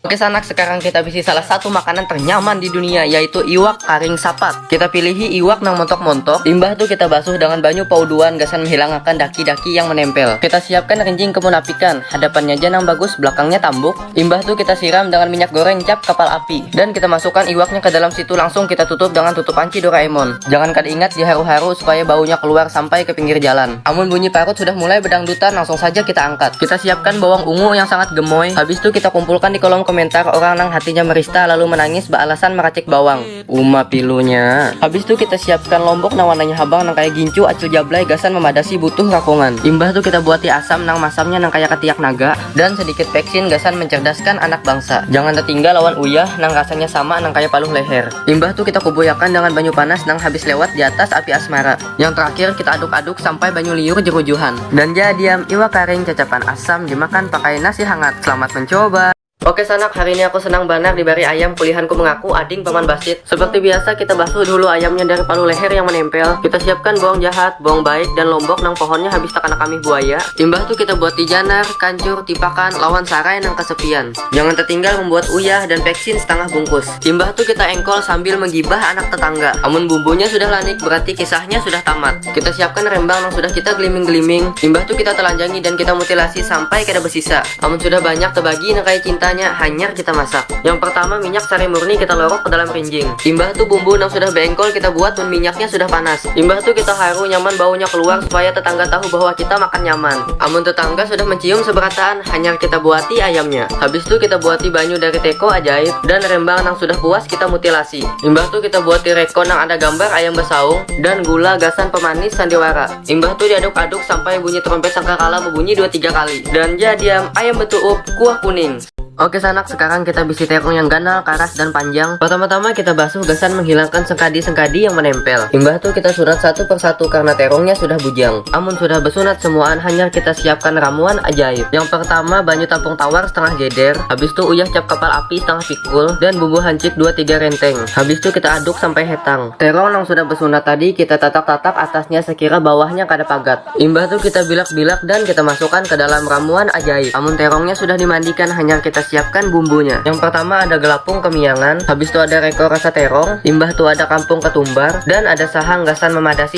Oke sanak, sekarang kita bisi salah satu makanan ternyaman di dunia yaitu iwak karing sapat. Kita pilihi iwak nang montok-montok, limbah itu kita basuh dengan banyu pauduan gasan menghilangkan daki-daki yang menempel. Kita siapkan rinjing kemunapikan, hadapannya aja nang bagus, belakangnya tambuk. Limbah itu kita siram dengan minyak goreng cap kapal api dan kita masukkan iwaknya ke dalam situ langsung kita tutup dengan tutup panci Doraemon. Jangan kada ingat diharu-haru supaya baunya keluar sampai ke pinggir jalan. Amun bunyi parut sudah mulai bedangdutan langsung saja kita angkat. Kita siapkan bawang ungu yang sangat gemoy. Habis tu kita kumpulkan di kolom komentar orang nang hatinya merista lalu menangis bealasan meracik bawang. Uma pilunya. Habis tu kita siapkan lombok nang warnanya habang nang kaya gincu acil jablay gasan memadasi butuh rakongan. Imbah tu kita buati asam nang masamnya nang kaya ketiak naga. Dan sedikit peksin gasan mencerdaskan anak bangsa. Jangan tetinggal lawan uyah nang rasanya sama nang kaya paluh leher. Imbah tu kita kubuyakan dengan banyu panas nang habis lewat di atas api asmara. Yang terakhir kita aduk-aduk sampai banyu liur jerujuhan. Dan jadiam iwak karing cacapan asam dimakan pakai nasi hangat. Selamat mencoba! Oke sanak, hari ini aku senang banar dibari ayam kulihanku mengaku ading paman basit. Seperti biasa kita basuh dulu ayamnya dari palu leher yang menempel. Kita siapkan bawang jahat, bawang baik, dan lombok nang pohonnya habis takana kamih buaya. Imbah tu kita buat tijanar, kancur, tipakan, lawan sarai nang kesepian. Jangan tertinggal membuat uyah dan peksin setengah bungkus. Imbah tu kita engkol sambil menggibah anak tetangga. Amun bumbunya sudah lanik berarti kisahnya sudah tamat. Kita siapkan rembang nang sudah kita geliming-geliming, imbah tu kita telanjangi dan kita mutilasi sampai kada besisa. Amun sudah banyak tebagi nang kaya cintanya, hanyar kita masak. Yang pertama minyak sari murni kita lorok ke dalam rinjing. Imbah tu bumbu nang sudah beengkol kita buat mun minyaknya sudah panas. Imbah tu kita haru nyaman baunya keluar supaya tetangga tahu bahwa kita makan nyaman. Amun tetangga sudah mencium seberataan, hanyar kita buati ayamnya. Habis tu kita buati banyu dari teko ajaib dan rembang nang sudah puas kita mutilasi. Imbah tu kita buati reko nang ada gambar ayam besaung dan gula gasan pemanis sandiwara. Imbah tu diaduk-aduk sampai bunyi trompet sangkakala bebunyi dua tiga kali. Dan ja diam, ayam betuup, kuah kuning. Oke sanak, sekarang kita bisi terong yang ganal, karas, dan panjang. Pertama-tama kita basuh gasan menghilangkan sengkadi-sengkadi yang menempel. Imbah tu kita sunat satu persatu karena terongnya sudah bujang. Amun sudah besunat semuaan hanyar kita siapkan ramuan ajaib. Yang pertama banyu tampung tawar setengah geder, habis tu uyah cap kapal api setengah pikul dan bumbu hancit dua tiga renteng. Habis tu kita aduk sampai hetang. Terong nang sudah besunat tadi kita tatak-tatak atasnya sekira bawahnya kada pagat. Imbah tu kita bilak-bilak dan kita masukan ke dalam ramuan ajaib. Amun terongnya sudah dimandikan hanyar kita siapkan bumbunya. Yang pertama ada gelapung kemiangan, habis tu ada reko rasa terong, imbah tu ada kampung ketumbar dan ada sahang gasan memadasi